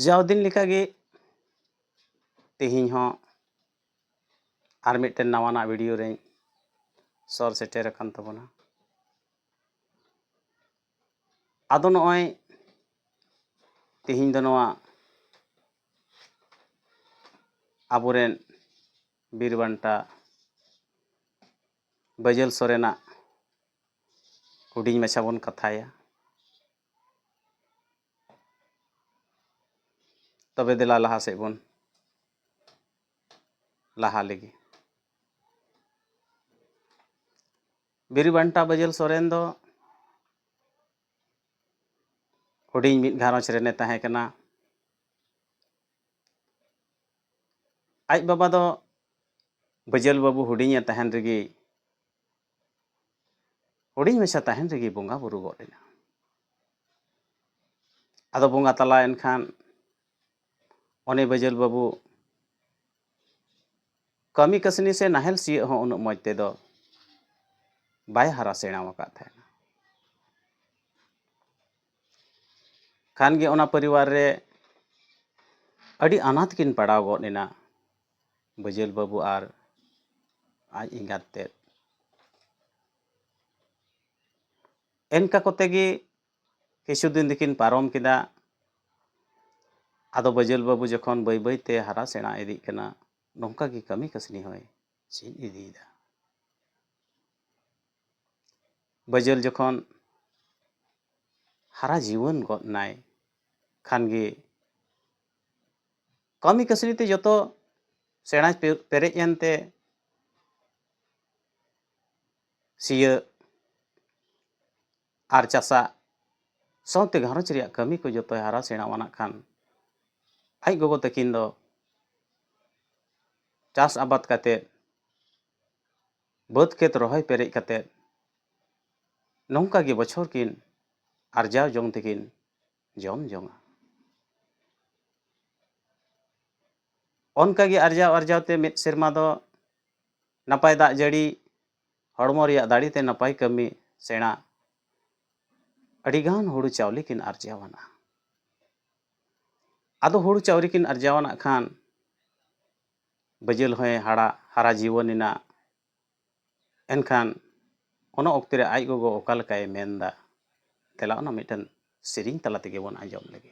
ᱡᱟᱣ ᱫᱤᱱ ᱞᱮᱠᱟᱜᱮ ᱛᱮᱦᱮᱧ ᱦᱚᱸ ᱟᱨ ᱢᱤᱫᱴᱮᱱ ᱱᱟᱣᱟᱱᱟᱜ ᱵᱷᱤᱰᱤᱭᱳ ᱨᱮᱧ ᱥᱚᱨ ᱥᱮᱴᱮᱨ ᱟᱠᱟᱱ ᱛᱟᱵᱚᱱᱟ ᱟᱫᱚ ᱱᱚᱜᱼᱚᱭ ᱛᱮᱦᱮᱧ ᱫᱚ ᱱᱚᱣᱟ ᱟᱵᱚᱨᱮᱱ ᱵᱤᱨ ᱵᱟᱱᱴᱟ ᱵᱟᱹᱡᱟᱹᱞ ᱥᱚᱨᱮᱱᱟᱜ ᱦᱩᱰᱤᱧ ᱢᱟᱪᱷᱟ ᱵᱚᱱ ᱠᱟᱛᱷᱟᱭᱟ ᱛᱚᱵᱮ ᱫᱮᱞᱟ ᱞᱟᱦᱟ ᱥᱮᱫ ᱵᱚᱱ ᱞᱟᱦᱟ ᱞᱮᱜᱮ ᱵᱤᱨᱤ ᱵᱟᱱᱴᱟ ᱵᱟᱹᱡᱟᱹᱞ ᱥᱚᱨᱮᱱ ᱫᱚ ᱦᱩᱰᱤᱧ ᱢᱤᱫ ᱜᱷᱟᱨᱚᱸᱡᱽ ᱨᱮᱱᱮ ᱛᱟᱦᱮᱸ ᱠᱟᱱᱟ ᱟᱡ ᱵᱟᱵᱟ ᱫᱚ ᱵᱟᱹᱡᱟᱹᱞ ᱵᱟᱹᱵᱩ ᱦᱩᱰᱤᱧᱮ ᱛᱟᱦᱮᱱ ᱨᱮᱜᱮ ᱦᱩᱰᱤᱧ ᱢᱟᱪᱷᱟ ᱛᱟᱦᱮᱱ ᱨᱮᱜᱮ ᱵᱚᱸᱜᱟ ᱵᱩᱨᱩ ᱜᱚᱫ ᱮᱱᱟ ᱟᱫᱚ ᱵᱚᱸᱜᱟ ᱛᱟᱞᱟᱭᱮᱱ ᱠᱷᱟᱱ ᱚᱱᱮ ᱵᱟᱹᱡᱟᱹᱞ ᱵᱟᱹᱵᱩ ᱠᱟᱹᱢᱤ ᱠᱟᱹᱥᱱᱤ ᱥᱮ ᱱᱟᱦᱮᱞ ᱥᱤᱭᱳᱜ ᱦᱚᱸ ᱩᱱᱟᱹᱜ ᱢᱚᱡᱽ ᱛᱮᱫᱚ ᱵᱟᱭ ᱦᱟᱨᱟ ᱥᱮᱬᱟ ᱟᱠᱟᱫ ᱛᱟᱦᱮᱸᱫ ᱠᱷᱟᱱ ᱜᱮ ᱚᱱᱟ ᱯᱚᱨᱤᱵᱟᱨ ᱨᱮ ᱟᱹᱰᱤ ᱟᱱᱟᱴ ᱠᱤᱱ ᱯᱟᱲᱟᱣ ᱜᱚᱫ ᱮᱱᱟ ᱵᱟᱹᱡᱟᱹᱞ ᱵᱟᱹᱵᱩ ᱟᱨ ᱟᱡ ᱮᱸᱜᱟᱛ ᱛᱮᱫ ᱮᱱᱠᱟ ᱠᱚᱛᱮ ᱜᱮ ᱠᱤᱪᱷᱩ ᱫᱤᱱ ᱫᱚᱠᱤᱱ ᱯᱟᱨᱚᱢ ᱠᱮᱫᱟ ᱟᱫᱚ ᱵᱟᱹᱡᱟᱹᱞ ᱵᱟᱹᱵᱩ ᱡᱚᱠᱷᱚᱱ ᱵᱟᱹᱭ ᱵᱟᱹᱭ ᱛᱮ ᱦᱟᱨᱟ ᱥᱮᱬᱟ ᱤᱫᱤᱜ ᱠᱟᱱᱟ ᱱᱚᱝᱠᱟ ᱜᱮ ᱠᱟᱹᱢᱤ ᱠᱟᱹᱥᱱᱤ ᱦᱚᱸᱭ ᱪᱮᱫ ᱤᱫᱤᱭᱮᱫᱟ ᱵᱟᱹᱡᱟᱹᱞ ᱡᱚᱠᱷᱚᱱ ᱦᱟᱨᱟ ᱡᱩᱣᱟᱹᱱ ᱜᱚᱫ ᱮᱱᱟᱭ ᱠᱷᱟᱱ ᱜᱮ ᱠᱟᱹᱢᱤ ᱠᱟᱹᱥᱱᱤ ᱛᱮ ᱡᱚᱛᱚ ᱥᱮᱬᱟ ᱯᱮᱨᱮᱡ ᱮᱱᱛᱮ ᱥᱤᱭᱟᱹᱜ ᱟᱨ ᱪᱟᱥᱟᱜ ᱥᱟᱶᱛᱮ ᱜᱷᱟᱨᱚᱸᱡᱽ ᱨᱮᱭᱟᱜ ᱠᱟᱹᱢᱤ ᱠᱚ ᱡᱚᱛᱚᱭ ᱦᱟᱨᱟ ᱥᱮᱬᱟᱣᱟᱱᱟᱜ ᱠᱷᱟᱱ ᱟᱡ ᱜᱚᱜᱚ ᱛᱟᱹᱠᱤᱱ ᱫᱚ ᱪᱟᱥ ᱟᱵᱟᱫ ᱠᱟᱛᱮ ᱵᱟᱹᱫᱽ ᱠᱷᱮᱛ ᱨᱚᱦᱚᱭ ᱯᱮᱨᱮᱡ ᱠᱟᱛᱮ ᱱᱚᱝᱠᱟ ᱜᱮ ᱵᱚᱪᱷᱚᱨ ᱠᱤᱱ ᱟᱨᱡᱟᱣ ᱡᱚᱝ ᱛᱮᱠᱤᱱ ᱡᱚᱢ ᱡᱚᱝᱟ ᱚᱱᱠᱟ ᱜᱮ ᱟᱨᱡᱟᱣ ᱟᱨᱡᱟᱣ ᱛᱮ ᱢᱤᱫ ᱥᱮᱨᱢᱟ ᱫᱚ ᱱᱟᱯᱟᱭ ᱫᱟᱜ ᱡᱟᱹᱲᱤ ᱦᱚᱲᱢᱚ ᱨᱮᱭᱟᱜ ᱫᱟᱲᱮ ᱛᱮ ᱱᱟᱯᱟᱭ ᱠᱟᱹᱢᱤ ᱥᱮᱬᱟ ᱟᱹᱰᱤᱜᱟᱱ ᱦᱩᱲᱩ ᱪᱟᱣᱞᱮ ᱠᱤᱱ ᱟᱨᱡᱟᱣ ᱟᱱᱟ ᱟᱫᱚ ᱦᱩᱲᱩ ᱪᱟᱣᱞᱮ ᱠᱤᱱ ᱟᱨᱡᱟᱣ ᱟᱱᱟᱜ ᱠᱷᱟᱱ ᱵᱟᱹᱡᱟᱹᱞ ᱦᱚᱸᱭ ᱦᱟᱲᱟᱜ ᱦᱟᱨᱟ ᱡᱤᱣᱟᱹᱱ ᱮᱱᱟ᱾ ᱮᱱᱠᱷᱟᱱ ᱚᱱᱟ ᱚᱠᱛᱮ ᱨᱮ ᱟᱡ ᱜᱚᱜᱚ ᱚᱠᱟ ᱞᱮᱠᱟᱭ ᱢᱮᱱ ᱮᱫᱟ ᱫᱮᱞᱟ ᱚᱱᱟ ᱢᱤᱫᱴᱟᱹᱝ ᱥᱮᱨᱮᱧ ᱛᱟᱞᱟ ᱛᱮᱜᱮ ᱵᱚᱱ ᱟᱸᱡᱚᱢ ᱞᱮᱜᱮ᱾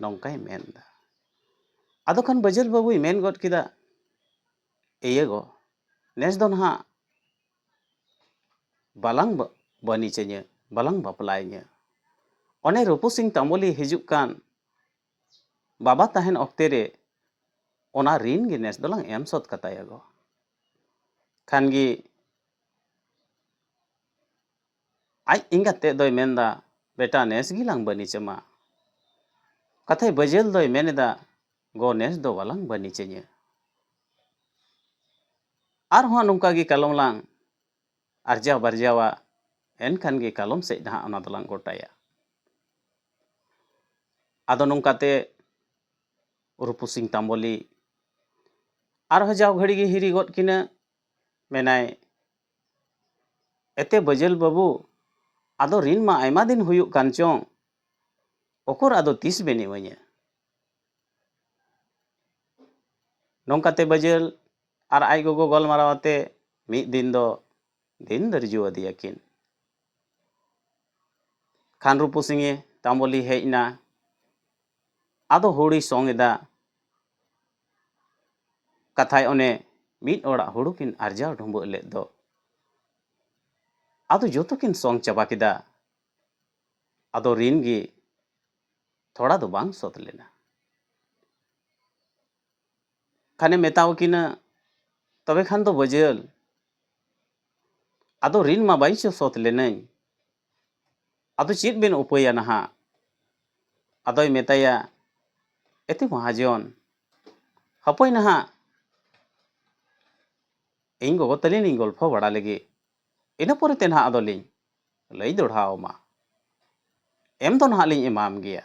ᱱᱚᱝᱠᱟᱭ ᱢᱮᱱᱫᱟ ᱟᱫᱚ ᱠᱷᱟᱱ ᱵᱟᱹᱡᱟᱹᱞ ᱵᱟᱹᱵᱩᱭ ᱢᱮᱱ ᱜᱚᱫ ᱠᱮᱫᱟ ᱤᱭᱟᱹ ᱜᱚ ᱱᱮᱥ ᱫᱚ ᱱᱟᱦᱟᱜ ᱵᱟᱞᱟᱝ ᱵᱟᱹᱱᱤᱡᱟᱹᱧᱟᱹ ᱵᱟᱞᱟᱝ ᱵᱟᱯᱞᱟᱭᱟᱹᱧᱟᱹ ᱚᱱᱮ ᱨᱩᱯᱩ ᱥᱤᱝ ᱛᱟᱢᱵᱚᱞᱤ ᱦᱤᱡᱩᱜ ᱠᱟᱱ ᱵᱟᱵᱟ ᱛᱟᱦᱮᱱ ᱚᱠᱛᱮ ᱨᱮ ᱚᱱᱟ ᱨᱤᱱ ᱜᱮ ᱱᱮᱥ ᱫᱚᱞᱟᱝ ᱮᱢ ᱥᱚᱫ ᱠᱟᱛᱟᱭᱟ ᱜᱚ ᱠᱷᱟᱱ ᱜᱮ ᱟᱡ ᱮᱸᱜᱟᱛ ᱛᱮᱫ ᱫᱚᱭ ᱢᱮᱱᱫᱟ ᱵᱮᱴᱟ ᱱᱮᱥ ᱜᱮ ᱞᱟᱝ ᱵᱟᱹᱱᱤᱪ ᱟᱢᱟ᱾ ᱠᱟᱛᱷᱟᱭ ᱵᱟᱹᱡᱟᱹᱞ ᱫᱚᱭ ᱢᱮᱱ ᱮᱫᱟ ᱜᱚ ᱱᱮᱥ ᱫᱚ ᱵᱟᱞᱟᱝ ᱵᱟᱹᱱᱤᱪ ᱟᱹᱧᱟᱹ᱾ ᱟᱨ ᱦᱚᱸ ᱱᱚᱝᱠᱟ ᱜᱮ ᱠᱟᱞᱚᱢ ᱞᱟᱝ ᱟᱨᱡᱟᱣ ᱵᱟᱨᱡᱟᱣᱟ ᱮᱱᱠᱷᱟᱱ ᱜᱮ ᱠᱟᱞᱚᱢ ᱥᱮᱫ ᱱᱟᱦᱟᱜ ᱚᱱᱟ ᱫᱚᱞᱟᱝ ᱜᱚᱴᱟᱭᱟ᱾ ᱟᱫᱚ ᱱᱚᱝᱠᱟ ᱛᱮ ᱨᱩᱯᱩᱥᱤᱝ ᱛᱟᱢᱵᱚᱞᱤ ᱟᱨ ᱦᱚᱸ ᱡᱟᱣ ᱜᱷᱟᱹᱲᱤ ᱜᱮ ᱦᱤᱨᱤ ᱜᱚᱫ ᱠᱤᱱᱟᱹ ᱢᱮᱱᱟᱭ ᱮᱛᱮ ᱵᱟᱹᱡᱟᱹᱞ ᱵᱟᱹᱵᱩ, ᱟᱫᱚ ᱨᱤᱱ ᱢᱟ ᱟᱭᱢᱟ ᱫᱤᱱ ᱦᱩᱭᱩᱜ ᱠᱟᱱ ᱪᱚᱝ, ᱚᱠᱚᱨ ᱟᱫᱚ ᱛᱤᱥ ᱵᱮᱱ ᱮᱢᱟᱹᱧᱟ? ᱱᱚᱝᱠᱟ ᱛᱮ ᱵᱟᱹᱡᱟᱹᱞ ᱟᱨ ᱟᱡ ᱜᱚᱜᱚ ᱜᱟᱞᱢᱟᱨᱟᱣ ᱟᱛᱮ ᱢᱤᱫ ᱫᱤᱱ ᱫᱚ ᱫᱤᱱ ᱫᱟᱹᱨᱡᱩ ᱟᱫᱮᱭᱟ ᱠᱤᱱ᱾ ᱠᱷᱟᱱ ᱨᱩᱯᱩ ᱥᱤᱝᱮ ᱛᱟᱢᱵᱚᱞᱤ ᱦᱮᱡ ᱮᱱᱟ᱾ ᱟᱫᱚ ᱦᱩᱲᱩᱭ ᱥᱚᱝ ᱮᱫᱟ᱾ ᱠᱟᱛᱷᱟᱭ ᱚᱱᱮ ᱢᱤᱫ ᱚᱲᱟᱜ ᱦᱩᱲᱩ ᱠᱤᱱ ᱟᱨᱡᱟᱣ ᱰᱷᱩᱸᱵᱟᱹᱜ ᱞᱮᱫ ᱫᱚ ᱟᱫᱚ ᱡᱚᱛᱚ ᱠᱤᱱ ᱥᱚᱝ ᱪᱟᱵᱟ ᱠᱮᱫᱟ ᱟᱫᱚ ᱨᱤᱱ ᱜᱮ ᱛᱷᱚᱲᱟ ᱫᱚ ᱵᱟᱝ ᱥᱚᱛ ᱞᱮᱱᱟ ᱠᱷᱟᱱᱮ ᱢᱮᱛᱟᱣ ᱠᱤᱱᱟ ᱛᱚᱵᱮ ᱠᱷᱟᱱ ᱫᱚ ᱵᱟᱹᱡᱟᱹᱞ ᱟᱫᱚ ᱨᱤᱱ ᱢᱟ ᱵᱟᱹᱧ ᱥᱚᱛ ᱞᱮᱱᱟᱹᱧ ᱟᱫᱚ ᱪᱮᱫ ᱵᱮᱱ ᱩᱯᱟᱹᱭᱟ ᱱᱟᱦᱟᱜ? ᱟᱫᱚᱭ ᱢᱮᱛᱟᱭᱟ, ᱮᱛᱮ ᱢᱚᱦᱟᱡᱚᱱ, ᱦᱟᱯᱳᱭ ᱱᱟᱦᱟᱜ ᱤᱧ ᱜᱚᱜᱚ ᱛᱟᱹᱞᱤᱧ ᱞᱤᱧ ᱜᱚᱞᱯᱷᱚ ᱵᱟᱲᱟ ᱞᱮᱜᱮ, ᱤᱱᱟᱹ ᱯᱚᱨᱮᱛᱮ ᱱᱟᱦᱟᱜ ᱟᱫᱚ ᱞᱤᱧ ᱞᱟᱹᱭ ᱫᱚᱲᱦᱟ ᱟᱢᱟ᱾ ᱮᱢ ᱫᱚ ᱱᱟᱦᱟᱜ ᱞᱤᱧ ᱮᱢᱟᱢ ᱜᱮᱭᱟ᱾